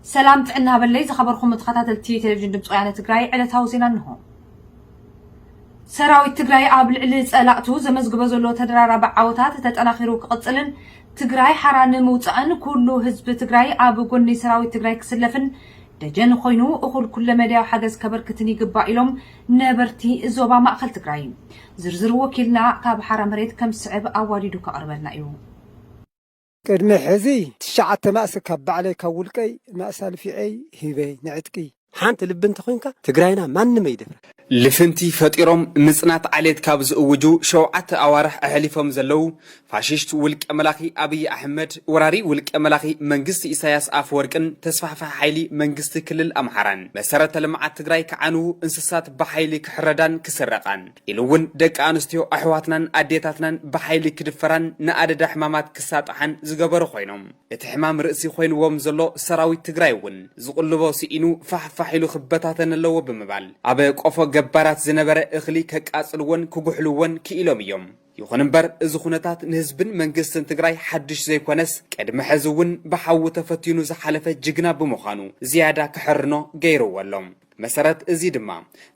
ሰላም ጥዕና በለይ ዝኸበርኩም ተኸታተልቲ ቴሌቪዥን ድምፂ ወያነ ትግራይ ዕለታዊ ዜና እንሆ። ሰራዊት ትግራይ ኣብ ልዕሊ ፀላእቱ ዘመዝግበ ዘሎ ተደራራቢ ዓወታት ተጠናኺሩ ክቕፅልን ትግራይ ሓራ ንምውፃእን ኩሉ ህዝቢ ትግራይ ኣብ ጎኒ ሰራዊት ትግራይ ክስለፍን ደጀን ኮይኑ እኹል ኩለ መዳያዊ ሓገዝ ከበርክትን ይግባእ ኢሎም ነበርቲ ዞባ ማእኸል ትግራይ። ዝርዝር ወኪልና ካብ ሓራ መሬት ከም ዝስዕብ ኣዋዲዱ ከቕርበልና እዩ። ቅድሚ ሕዚ ትሽዓተ ማእሲ ካብ ባዕለይ ካብ ውልቀይ ማእሲ ኣልፊዔይ ሂበ ንዕጥቂ። ሓንቲ ልቢ እንተኾይንካ ትግራይና ማንም ኣይደፍራ። ልፍንቲ ፈጢሮም ምፅናት ዓሌት ካብ ዝእውጁ ሸውዓተ ኣዋርሕ ኣሕሊፎም ዘለዉ ፋሽስት ውልቀ መላኺ ኣብይ ኣሕመድ፣ ወራሪ ውልቀ መላኺ መንግስቲ ኢሳያስ ኣፈወርቅን ተስፋሕፋሒ ሓይሊ መንግስቲ ክልል ኣምሓራን፣ መሰረተ ልምዓት ትግራይ ክዓንዉ፣ እንስሳት ብሓይሊ ክሕረዳን ክስረቓን፣ ኢሉ እውን ደቂ ኣንስትዮ ኣሕዋትናን ኣዴታትናን ብሓይሊ ክድፈራን ንኣደዳ ሕማማት ክሳጥሓን ዝገበሩ ኮይኖም፣ እቲ ሕማም ርእሲ ኮይንዎም ዘሎ ሰራዊት ትግራይ እውን ዝቕልቦ ስኢኑ ፋሕ ፋሕ ኢሉ ክበታተን ኣለዎ ብምባል፣ ኣብ ቆፎ ገባራት ዝነበረ እኽሊ ከቃፅልዎን ክጉሕልዎን ክኢሎም እዮም። ይኹን እምበር እዚ ኩነታት ንህዝብን መንግስትን ትግራይ ሓዱሽ ዘይኮነስ ቅድሚ ሕዚ እውን ብሓዊ ተፈቲኑ ዝሓለፈ ጅግና ብምዃኑ ዝያዳ ክሕርኖ ገይርዎ ኣሎ። ብመሰረት እዚ ድማ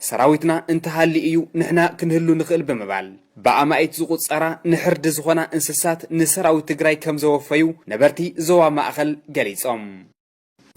ሰራዊትና እንተሃልዩ እዩ ንሕና ክንህሉ ንኽእል ብምባል ብኣማኢት ዝቑፀራ ንሕርዲ ዝኾና እንስሳት ንሰራዊት ትግራይ ከምዘወፈዩ ነበርቲ ዞባ ማእኸል ገሊፆም።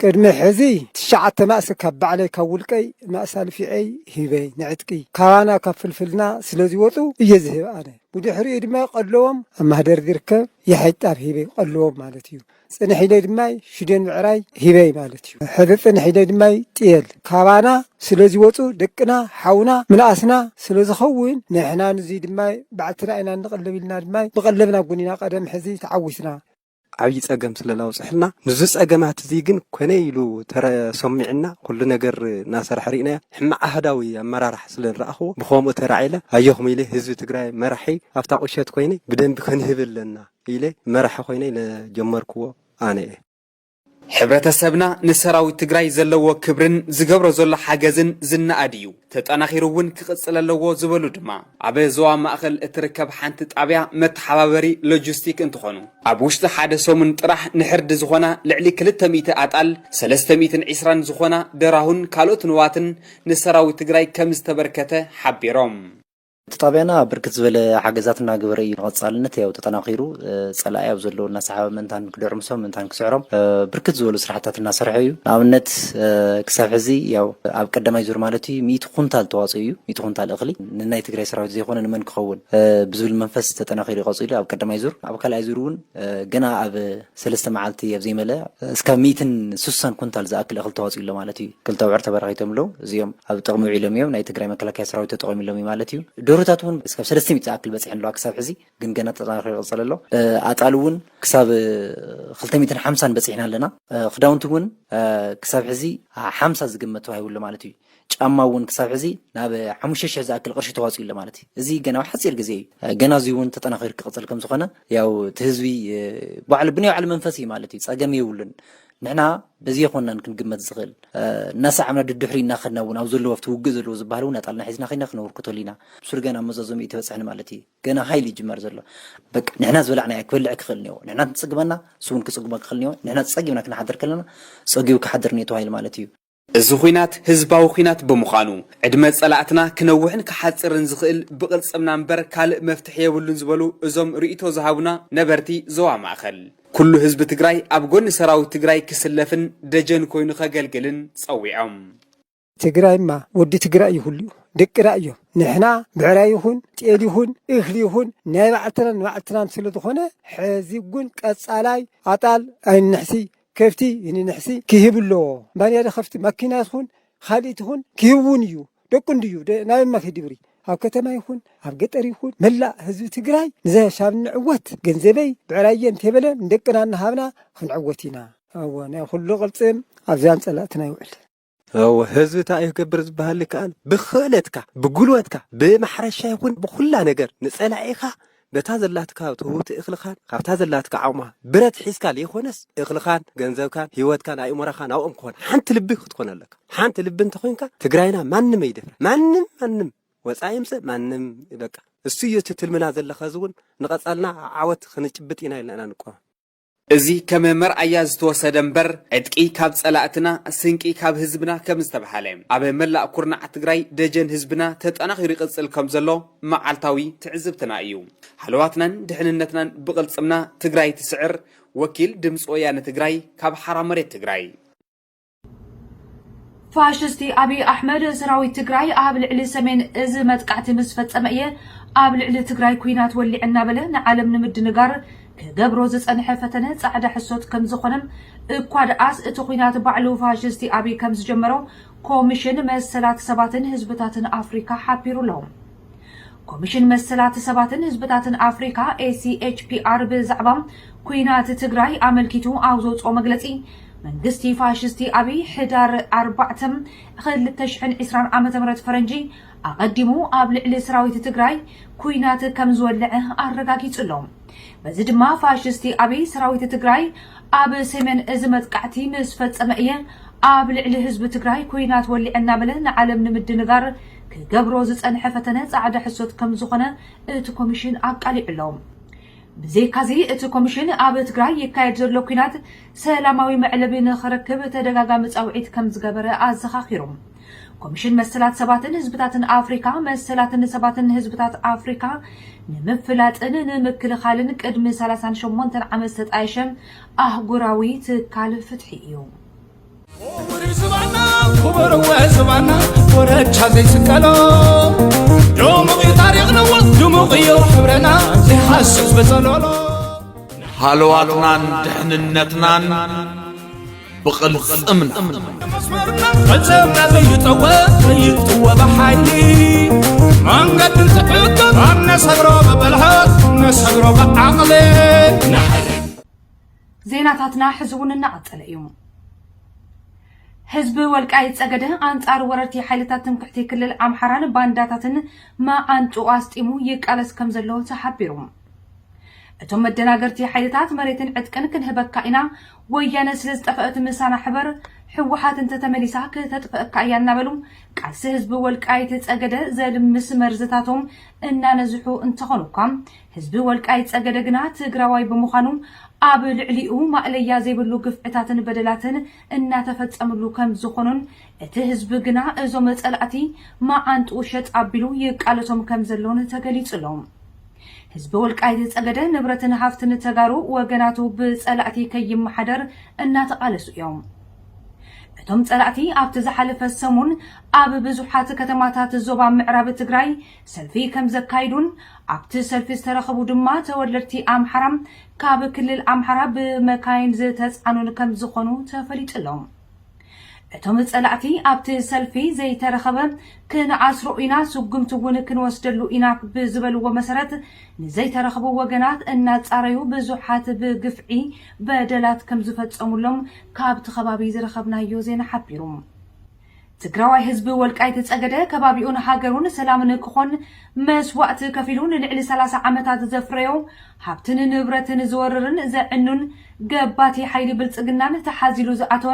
ቅድሚ ሕዚ ትሽዓተ ማእሲ ካብ ባዕለይ ካብ ውልቀይ ማእሲ ኣልፊዔይ ሂበ ንዕጥቂ ካባና ካብ ፍልፍልና ስለዝወፁ እየ ዝህብ ኣነ ብድሕሪኡ ድማ ቀለዎም ኣብ ማህደር ዝርከብ የሐጭ ጣብ ሂበ ቀለዎም ማለት እዩ ፅንሕ ኢለ ድማ ሽደን ምዕራይ ሂበ ማለት እዩ ሕዚ ፅንሕ ኢለ ድማ ጥየል ካባና ስለዝወፁ ደቅና ሓውና ምንኣስና ስለዝኸውን ንሕና ንዙይ ድማ ባዕልትና ኢና እንቕለብ ኢልና ድማ ብቐለብና ጉኒና ቀደም ሕዚ ተዓዊትና ዓብዪ ፀገም ስለ ዘውፀሐልና ምስዚ ፀገማት እዚ ግን ኮነ ኢሉ ተሰሚዑና ኩሉ ነገር እናሰርሐ ሪእናዮ ሕማቕ ኣሃዳዊ ኣመራርሓ ስለ ዝረኣኽዎ ብኸምኡ ተራዒለ ኣየኹም ኢለ ህዝቢ ትግራይ መራሒ ኣብታ ቁሸት ኮይነ ብደንቢ ክንህብ ኣለና ኢለ መራሒ ኮይነ ዝጀመርክዎ ኣነ እየ። ሕብረተሰብና ንሰራዊት ትግራይ ዘለዎ ክብርን ዝገብሮ ዘሎ ሓገዝን ዝነኣድ እዩ፣ ተጠናኺሩ እውን ክቕፅል ኣለዎ ዝበሉ ድማ ኣብ ዞባ ማእኸል እትርከብ ሓንቲ ጣብያ መተሓባበሪ ሎጂስቲክ እንትኾኑ፣ ኣብ ውሽጢ ሓደ ሰሙን ጥራሕ ንሕርዲ ዝኾና ልዕሊ ክልተ ሚእቲ ኣጣል፣ ሰለስተ ሚእትን ዕስራን ዝኾና ደራሁን ካልኦት ንዋትን ንሰራዊት ትግራይ ከምዝተበርከተ ሓቢሮም። እቲ ጣብያና ብርክት ዝበለ ሓገዛት እናገበረ እዩ ንቐፃልነት ያው ተጠናኺሩ ፀላኢ ኣብ ዘለዎ እናሰሓበ ምእንታን ክድዕምሶም ምእንታን ክስዕሮም ብርክት ዝበሉ ስራሕታት እናሰርሐ እዩ። ንኣብነት ክሳብ ሕዚ ያው ኣብ ቀዳማይ ዙር ማለት እዩ ሚእቲ ኩንታል ተዋፅኡ እዩ። ሚእቲ ኩንታል እኽሊ ንናይ ትግራይ ሰራዊት ዘይኮነ ንመን ክኸውን ብዝብል መንፈስ ተጠናኺሩ እዩ ቀፂሉ ኣብ ቀዳማይ ዙር። ኣብ ካልኣይ ዙር እውን ገና ኣብ ሰለስተ መዓልቲ ኣብ ዘይመለእ እስካብ ሚእትን ስሳን ኩንታል ዝኣክል እኽሊ ተዋፂኡ ኣሎ ማለት እዩ። ክልተ ኣብዑር ተበራኺቶም ኣለው። እዚኦም ኣብ ጥቕሚ ውዒሎም እዮም። ናይ ትግራይ መከላከያ ሰራዊት ተጠቒሙሎም እዩ ማለት እዩ። ደርሆታት እውን እስካብ ሰለስተ ሚእቲ ዝኣክል በፂሐን ኣለዋ ክሳብ ሕዚ፣ ግን ገና ተጠናኺሩ ይቕፅል ኣሎ። ኣጣል እውን ክሳብ ክልተ ሚእትን ሓምሳን በፂሕና ኣለና። ክዳውንቲ እውን ክሳብ ሕዚ ሓምሳ ዝግመት ተዋሂቡ ኣሎ ማለት እዩ። ጫማ እውን ክሳብ ሕዚ ናብ ሓሙሽተ ሽሕ ዝኣክል ቅርሺ ተዋፂኡ ኣሎ ማለት እዩ። እዚ ገና ኣብ ሓፂር ግዜ እዩ። ገና እዙይ እውን ተጠናኺሩ ክቕፅል ከም ዝኾነ ያው እቲ ህዝቢ ባዕሉ ብናይ ባዕሉ መንፈስ እዩ ማለት እዩ። ፀገም የብሉን። ንሕና በዚ የኮናን ክንግመት ዝኽእል እናሰዓብና ድድሕሪ እናኸድና እውን ኣብ ዘለዎ ኣብቲ ውግእ ዘለዎ ዝበሃል እውን ኣጣልና ሒዝና ከይና ክነበርክተሉ ኢና ብሱር ገና ኣብ መዛዘሚ እይተበፀሐን ማለት እዩ ገና ሃይል እዩ ጅማር ዘሎ በቃ ንሕና ዝበላዕናዮ ክበልዕ ክኽእል እኒኦ ንሕና እንትፅግበና እሱ እውን ክፅግቦ ክኽእል እኒኦ ንሕና ፀጊብና ክንሓድር ከለና ፀጊቡ ክሓድር እኒኦ ተባሂሉ ማለት እዩ እዚ ኹናት ህዝባዊ ኹናት ብምዃኑ ዕድመ ፀላእትና ክነውሕን ክሓፅርን ዝኽእል ብቕልፅምና እምበር ካልእ መፍትሒ የብሉን ዝበሉ እዞም ርኢቶ ዝሃቡና ነበርቲ ዞባ ማእኸል ኩሉ ህዝቢ ትግራይ ኣብ ጎኒ ሰራዊት ትግራይ ክስለፍን ደጀን ኮይኑ ከገልግልን ፀዊዖም። ትግራይማ ወዲ ትግራይ እዩ ኩሉኡ ደቂ ራእ እዮም ንሕና ብዕራይ ይኹን ጤል ይኹን እኽሊ ይኹን ናይ ባዕልትና ንባዕልትናን ስለዝኾነ ሕዚ እውን ቀፃላይ ኣጣል ኣይንሕስይ ከፍቲ ንንሕሲ ኪህብ እሎዎ ባንያደ ከፍቲ ማኪና ትኹን ኻልእ ትኹን ኪህብ እውን እዩ ደቁ እንድዩ ናበይ እማ ኪድብሪ ኣብ ከተማ ይኹን ኣብ ገጠር ይኹን መላእ ህዝቢ ትግራይ ንዘሻብ ንዕወት ገንዘበይ ብዕራይ እየ እንተይበለ ንደቅና እናሃብና ኽንዕወት ኢና። ኣወ ናይ ኹሉ ቕልፅም ኣብዚኣን ፀላእትና ይውዕል። እወ ህዝቢ እንታይ እዩ ክገብር ዝበሃል ይከኣል ብኽእለትካ ብጉልበትካ ብማሕረሻ ይኹን ብኹላ ነገር ንጸላኢኻ በታ ዘላትካ ትህውቲ እኽልኻን ካብታ ዘላትካ ዓቕማ ብረት ሒዝካ ዘይኮነስ እኽልኻን ገንዘብካን ሂወትካን ኣእምሮኻን ኣብኦም ክኾን ሓንቲ ልቢ ክትኮን ኣለካ ሓንቲ ልቢ እንተኾይንካ ትግራይና ማንም ኣይደፍራ ማንም ማንም ወፃኢ ይምፅእ ማንም በቃ እሱ እዩ እቲ ትልምና ዘለካ እዚ እውን ንቐፃልና ዓወት ክንጭብጥ ኢና ኢልና ኢና ንቆም እዚ ከም መርኣያ ዝተወሰደ እምበር ዕጥቂ ካብ ፀላእትና ስንቂ ካብ ህዝብና ከም ዝተብሃለ ኣብ መላእ ኩርናዓት ትግራይ ደጀን ህዝብና ተጠናኺሩ ይቕፅል ከም ዘሎ መዓልታዊ ትዕዝብትና እዩ። ሃለዋትናን ድሕንነትናን ብቕልፅምና ትግራይ ትስዕር ወኪል ድምፂ ወያነ ትግራይ ካብ ሓራ መሬት ትግራይ። ፋሽስቲ ኣብይ ኣሕመድ ሰራዊት ትግራይ ኣብ ልዕሊ ሰሜን እዚ መጥቃዕቲ ምስ ፈፀመ እየ ኣብ ልዕሊ ትግራይ ኩናት ወሊዐ እናበለ ንዓለም ንምድንጋር ክገብሮ ዝፀንሐ ፈተነ ፃዕዳ ሕሶት ከም ዝኾነን እኳ ደኣስ እቲ ኩናት ባዕሉ ፋሽስቲ ኣብይ ከም ዝጀመሮ ኮሚሽን መሰላት ሰባትን ህዝብታትን ኣፍሪካ ሓቢሩ ኣሎ። ኮሚሽን መሰላት ሰባትን ህዝብታትን ኣፍሪካ፣ ACHPR፣ ብዛዕባ ኲናት ትግራይ ኣመልኪቱ ኣብ ዘውፅኦ መግለፂ፣ መንግስቲ ፋሽስቲ ኣብይ ሕዳር ኣርባዕተ ክልተ ሽሕን ዕስራን ዓመተ ምህረት ፈረንጂ ኣቐዲሙ ኣብ ልዕሊ ሰራዊት ትግራይ ኲናት ከምዝወለዐ ኣረጋጊፁ ኣሎ። በዚ ድማ ፋሽስቲ ኣብይ ሰራዊት ትግራይ ኣብ ሰሜን እዚ መጥቃዕቲ ምስ ፈፀመ እየ ኣብ ልዕሊ ህዝቢ ትግራይ ኩናት ወሊዐ እናበለ ንዓለም ንምድንጋር ክገብሮ ዝፀንሐ ፈተነ ፃዕዳ ሕሶት ከምዝኾነ እቲ ኮሚሽን ኣቃሊዑ ኣሎ። ብዘይካዚ እቲ ኮሚሽን ኣብ ትግራይ ይካየድ ዘሎ ኩናት ሰላማዊ መዕለቢ ንኽረክብ ተደጋጋሚ ፃውዒት ከምዝገበረ ኣዘኻኺሩ። ኮሚሽን መሰላት ሰባትን ህዝብታትን ኣፍሪካ መሰላትን ሰባትን ህዝብታት ኣፍሪካ ንምፍላጥን ንምክልኻልን ቅድሚ ሰላሳን ሸሞንተን ዓመት ዝተጣየሸ ኣህጉራዊ ትካል ፍትሒ እዩ። ቁሪ ዝባና ኩበርወ ዝባና ወረቻ ዘይስቀሎ ድሙቕ እዩ ታሪኽ ነወት ድሙቕ እዩ ሕብረና ዘይሓስብ በጸሎሎ ሃለዋትናን ድሕንነትናን ብቕልፅምና ፈፀምና ዘይጠወ ዘይጥወ ብሓይሊ መንገዲ ዝሕግር ኣብ ነሰግሮ ብብልሃት ነሰግሮ ብዓቕሊ ዜናታትና ሕዚ እውን እናቐፀለ እዩ ህዝቢ ወልቃይት ጸገደ ኣንጻር ወረርቲ ሓይልታት ትምክሕቲ ክልል ኣምሓራን ባንዳታትን መዓንጥኡ ኣስጢሙ ይቃለስ ከም ዘሎ ተሓቢሩ እቶም መደናገርቲ ሓይልታት መሬትን ዕጥቅን ክንህበካ ኢና፣ ወያነ ስለ ዝጠፈእት ምሳና ሕበር፣ ህወሓት እንተተመሊሳ ክተጥፈእካ እያ እናበሉ ቃልሲ ህዝቢ ወልቃይት ፀገደ ዘልምስ መርዝታቶም እናነዝሑ እንተኾኑኳ ህዝቢ ወልቃይት ፀገደ ግና ትግራዋይ ብምዃኑ ኣብ ልዕሊኡ ማእለያ ዘይብሉ ግፍዕታትን በደላትን እናተፈፀምሉ ከም ዝኾኑን እቲ ህዝቢ ግና እዞም ፀላእቲ መዓንጥኡ ሸጥ ኣቢሉ ይቃለሶም ከም ዘሎን ተገሊፁ ኣሎ። ህዝቢ ወልቃይት ፀገዴ ንብረትን ሃፍትን ተጋሩ ወገናቱ ብፀላእቲ ከይመሓደር እናተቓለሱ እዮም። እቶም ፀላእቲ ኣብቲ ዝሓለፈ ሰሙን ኣብ ብዙሓት ከተማታት ዞባ ምዕራብ ትግራይ ሰልፊ ከምዘካይዱን ኣብቲ ሰልፊ ዝተረኸቡ ድማ ተወለድቲ ኣምሓራ ካብ ክልል ኣምሓራ ብመካይን ዝተፃዕኑን ከምዝኾኑ ተፈሊጡ ኣሎ። እቶም ፀላእቲ ኣብቲ ሰልፊ ዘይተረኸበ ክንዓስሮ ኢና፣ ስጉምቲ እውን ክንወስደሉ ኢና ብዝበልዎ መሰረት ንዘይተረኽቡ ወገናት እናፃረዩ ብዙሓት ብግፍዒ በደላት ከምዝፈፀሙሎም ካብቲ ከባቢ ዝረኸብናዮ ዜና ሓቢሩ። ትግራዋይ ህዝቢ ወልቃይት ፀገደ ከባቢኡን ሃገሩን ሰላም ንክኾን መስዋእቲ ከፊሉ ንልዕሊ ሰላሳ ዓመታት ዘፍረዮ ሃብትን ንብረትን ዝወርርን ዘዕኑን ገባቲ ሓይሊ ብልፅግናን ተሓዚሉ ዝኣተወ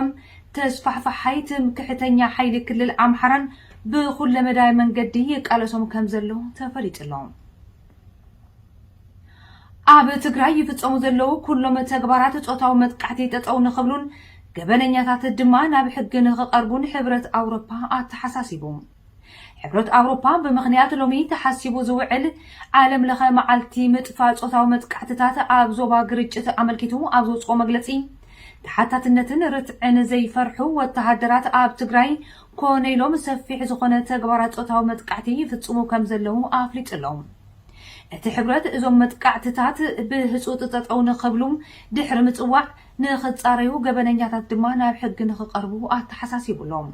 ተስፋሕፋሓይ ትምክሕተኛ ሓይሊ ክልል ኣምሓራን ብኩለመዳይ መንገዲ ይቃለሶም ከምዘሎ ተፈሊጡ ኣሎ። ኣብ ትግራይ ይፍፀሙ ዘለዉ ኩሎም ተግባራት ፆታዊ መጥቃዕቲ ጠጠው ንኽብሉን ገበነኛታት ድማ ናብ ሕጊ ንኽቐርቡን ሕብረት ኣውሮፓ ኣተሓሳሲቡ። ሕብረት ኣውሮፓ ብምኽንያት ሎሚ ተሓሲቡ ዝውዕል ዓለም ለኸ መዓልቲ ምጥፋእ ጾታዊ መጥቃዕትታት ኣብ ዞባ ግርጭት ኣመልኪቱ ኣብ ዘውጽኦ መግለጺ ተሓታትነትን ርትዕን ዘይፈርሑ ወተሃደራት ኣብ ትግራይ ኮነ ኢሎም ሰፊሕ ዝኾነ ተግባራት ጾታዊ መጥቃዕቲ ይፍጽሙ ከም ዘለዉ ኣፍሊጡ ኣሎ። እቲ ሕብረት እዞም መጥቃዕትታት ብህጹጽ ጠጠው ንኽብሉ ድሕሪ ምጽዋዕ ንኽፃረዩ ገበነኛታት ድማ ናብ ሕጊ ንኽቐርቡ ኣተሓሳሲቡ ኣሎ።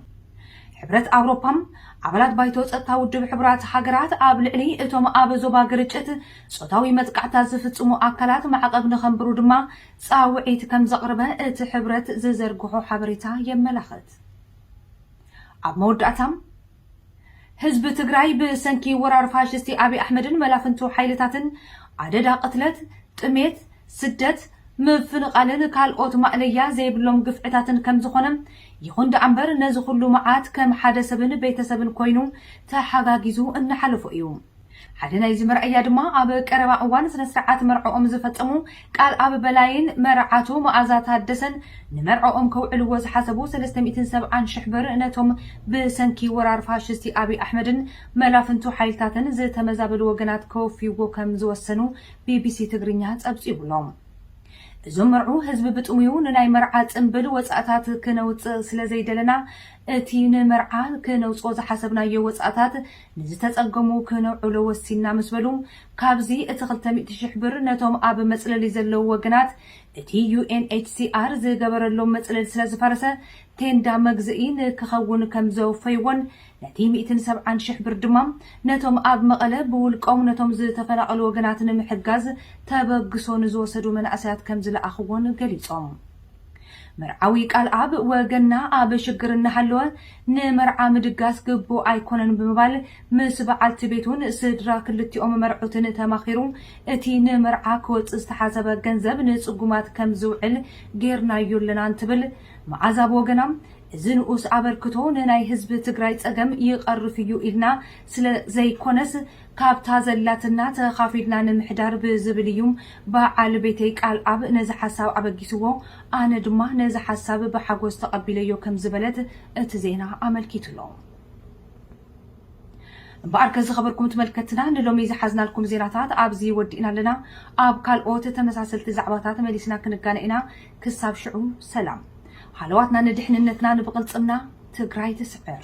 ሕብረት ኣውሮፓ፣ ኣባላት ባይቶ ፀጥታ ውድብ ሕቡራት ሃገራት ኣብ ልዕሊ እቶም ኣብ ዞባ ግርጭት ፆታዊ መጥቃዕትታት ዝፍፅሙ ኣካላት ማዕቐብ ንኸንብሩ ድማ ፃውዒት ከምዘቕርበ እቲ ሕብረት ዝዘርግሖ ሓበሬታ የመላኽት። ኣብ መወዳእታ፣ ህዝቢ ትግራይ ብሰንኪ ወራር ፋሽስቲ ኣብይ ኣሕመድን መላፍንቱ ሓይልታትን ኣደዳ ቅትለት፣ ጥሜት፣ ስደት፣ ምፍንቓልን ካልኦት ማእለያ ዘይብሎም ግፍዕታትን ከምዝኾነ፣ ይኹን ደኣምበር ነዚ ኹሉ መዓት ከም ሓደ ሰብን ቤተሰብን ኮይኑ ተሓጋጊዙ እናሓለፎ እዩ። ሓደ ናይዚ መርኣያ ድማ ኣብ ቀረባ እዋን ስነስርዓት መርዕኦም ዝፈጸሙ ቃልኣብ በላይን መርዓቱ መኣዛ ታደሰን ንመርዕኦም ከውዕልዎ ዝሓሰቡ ሰለስተ ሚእትን ሰብዓን ሽሕ ብር ነቶም ብሰንኪ ወራር ፋሽስቲ ኣብይ ኣሕመድን መላፍንቱ ሓይልታትን ዝተመዛበሉ ወገናት ከወፍይዎ ከም ዝወሰኑ ቢቢሲ ትግርኛ ጸብጺቡ'ሎ። እዞም መርዑ ህዝቢ ብጥሙዩ ንናይ መርዓ ጽንብል ወጻእታት ክነውጽእ ስለዘይደለና እቲ ንመርዓ ክነውጽኦ ዝሓሰብናዮ ወጻእታት ንዝተጸገሙ ክነውዕሎ ወሲንና ምስ በሉ፣ ካብዚ እቲ ክልተ ሚእቲ ሽሕ ብር ነቶም ኣብ መጽለሊ ዘለዉ ወገናት እቲ ዩኤንኤችሲኣር ዝገበረሎም መጽለሊ ስለ ዝፈረሰ ቴንዳ መግዝኢ ንክኸውን ከም ዘወፈይዎን ነቲ ሚእትን ሰብዓን ሽሕ ብር ድማ ነቶም ኣብ መቐለ ብውልቆም ነቶም ዝተፈናቐሉ ወገናት ንምሕጋዝ ተበግሶ ንዝወሰዱ መናእሰያት ከም ዝለኣኽዎን ገሊጾም። መርዓዊ ቃልኣብ ወገንና ኣብ ሽግር እናሃለወ ንመርዓ ምድጋስ ግቡእ ኣይኮነን ብምባል ምስ በዓልቲ ቤቱን ስድራ ክልቲኦም መርዑትን ተማኺሩ እቲ ንመርዓ ክወፅእ ዝተሓሰበ ገንዘብ ንፅጉማት ከም ዝውዕል ገይርናዮ ኣለና እንትብል መዓዛ ብወገና እዚ ንኡስ ኣበርክቶ ንናይ ህዝቢ ትግራይ ፀገም ይቐርፍ እዩ ኢልና ስለ ዘይኮነስ ካብታ ዘላትና ተኻፊልና ንምሕዳር ብዝብል እዩ በዓል ቤተይ ቃልኣብ ነዚ ሓሳብ ኣበጊስዎ፣ ኣነ ድማ ነዚ ሓሳብ ብሓጎስ ተቐቢለዮ ከም ዝበለት እቲ ዜና ኣመልኪቱ ኣሎ። እምበኣርከ ዝኸበርኩም ትመልከትና ንሎሚ ዝሓዝናልኩም ዜናታት ኣብዚ ወዲእና ኣለና። ኣብ ካልኦት ተመሳሰልቲ ዛዕባታት መሊስና ክንጋነ ኢና። ክሳብ ሽዑ ሰላም። ሃለዋትና ንድሕንነትና ንብቕልጽምና ትግራይ ትስዕር!